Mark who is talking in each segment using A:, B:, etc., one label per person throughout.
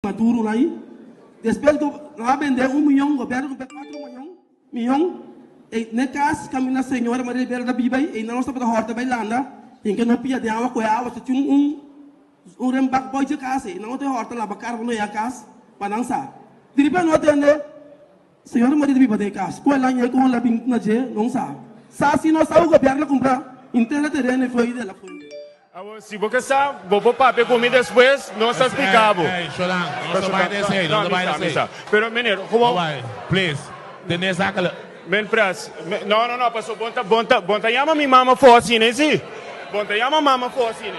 A: pa duru lai despues go lo a bende un miyon go berde kumpe kuatro mayon miyon e ne kas kaminda señora Maria Ribera ta biba ei einan lo staba ta hòrta bai landa tin ke no pia den awa kohe awa ta tin un un renbak boichi kas ei einan lo te hòrta laba kar bo no yega kas pa nan sa di riba no tende. Señora Maria ta biba den e cas. Cu e laña y como la bin na dje, no sa. Sa si no sa cu Gobierno a cumpra intera tereno y foey de la fuente. Awor, si bo ke sa, bo por papia cu mi despues, nos ta splica bo. Ey, Sholan, no ta bay na esey, no ta bay na esey. No, mi sa, mi sa. Pero meneer, como. No bay, please. Te nes a kla. Men pras, men, no, no, no, paso bon ta, bon ta, bon ta yama mi mama for asina, y si? Bon ta yama mama for asina.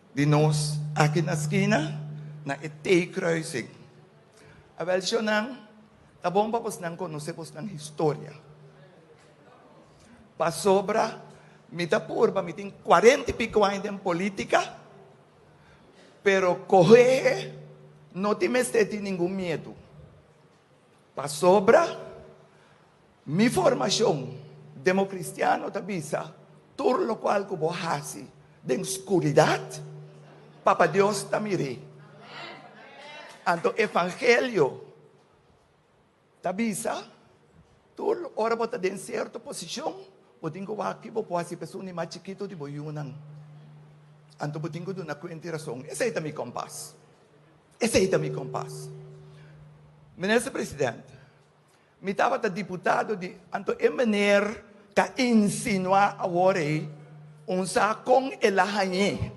A: Di nos aki na skina, na e T-kruising. Awel shownan, ta bon pa bosnan konosé bosnan historia. Pasobra mi ta purba, mi tin kuarenta i piko aña den polítika, pero kohehe no tin mester tin ningun miedu, pasobra. Mi formacion demo cristiano ta bisa, Tur locual cu bo haci den scuridad, Papa Dios ta mir'é. Anto Evangelio ta bisa, Tur ora bo ta den cierto posicion, bo tin cu wak ki bo por haci p'esun di mas chikito di bo yunan. Anto bo tin cu duna cuenta y razon. Esey ta mi compás. Esey ta mi compás. Minister President. Mi tabata diputado di anto e meneer ta insinua awor ey un sa con el a hañe.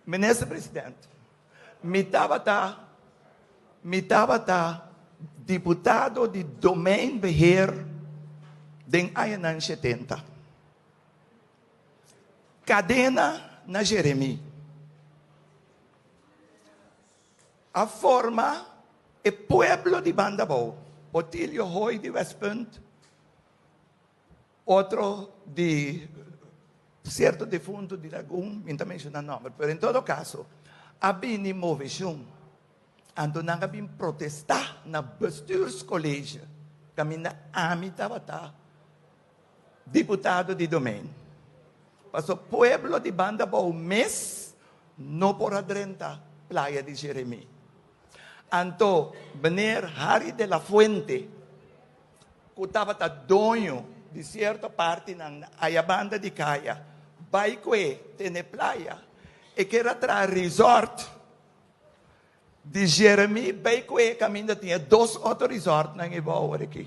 A: Minister president, mi tabata mi tabata diputado di domein beheer den añanan shetenta. Cadena na Jeremie. A forma e pueblo di banda abou, Otilio Hoy di West Punt, otro di cierto difunto di Lagun, mi no ta menciona nomber, pero en todo caso a bini movecion anto nan a bin protesta na bestuurscollege caminda ami tabata Diputado di Domein. Paso pueblo di banda bou mes no por a drenta playa di Jeremi. Anto Mnr. Harry de la Fuente cu tabata doño di cierto partinan ayabanda di caya bay cu e tene playa, e kier a traha resort di Jeremi bay cu e caminda tin e dos otro resortnan e bo awor aki.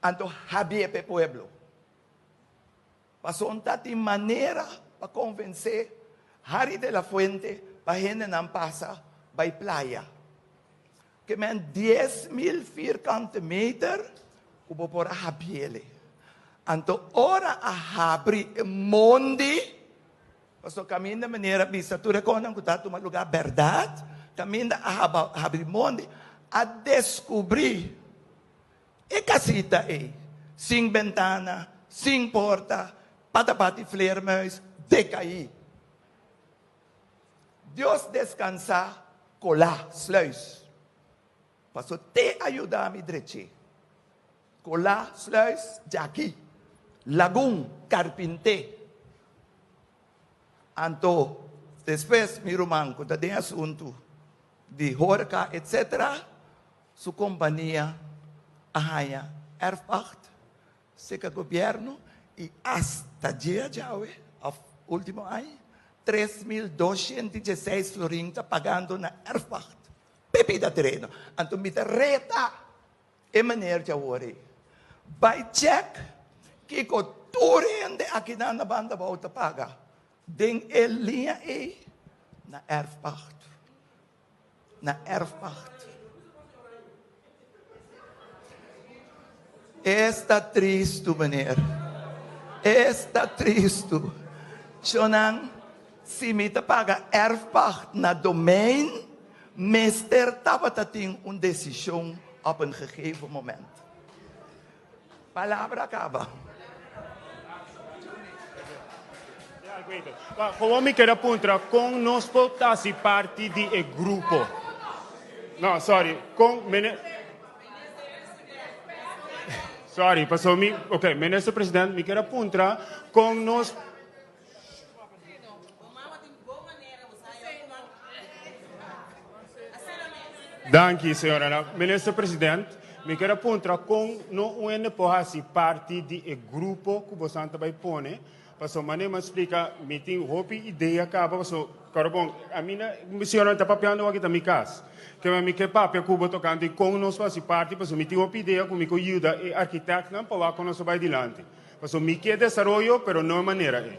A: Anto habié p'e pueblo. Pasobra un ta tin manera pa konvensé Harry de la Fuente pa hendenan pasa bai playa. Ke mèn dies mil vierkante meter ku bo por a habié lei. Anto ora a habri e mondi, pasobra kaminda manera a bisa tur e kosnan ku ta tuma lugá bèrdat, kaminda a habri mondi, a deskubrí. E casita ey, sin bentana, sin porta, pa ta bati fleermuis, decai. Dios descansa cola, sluis. Paso te a yuda mi dreche. Cola, sluis, djaki, lagun, carpinte. Anto, despues mi ruman cu ta den asuntu di horeca etc. Su kompania a haña erfpacht, seka gobièrnu i asta djea djawe, òf último aña, tres mil doshent i djeseis florin ta pagando na erfpacht p'e bida tereno. Anto mi ta reta e meneer dje awor ei, bai chèk kiko tur hende akinan na banda abou ta paga den e liña ei na erfpacht. na erfpacht. E sta tristu meneer. E sta tristu. Chonan, si mi ta paga erfpacht na domein, mester tabata tin un decision op een gegeven moment. Palabra caba. Como mi quier a puntra con nos por ta si parti di e grupo? No, sorry. Con mene... Sorry, paso mi... Ok, minister president, mi quier a puntra con nos... Danki, señornan. Minister President, mi kier a puntra kon no un hende por hasi parti di e grupo ku bosan ta bai pone, paso manera mi a splika mi tin hopi idea kaba paso Pero bon, a mi na, mi siñor no ta papiando aki ta mi cas. Kema mi ke papia ku bo tokante kon nos por hasi parti, paso mi tin hopi idea ku mi ko yuda e architectnan pa wak con nos ta bai dilanti. Paso mi ke desaroyo, pero no e manera ei.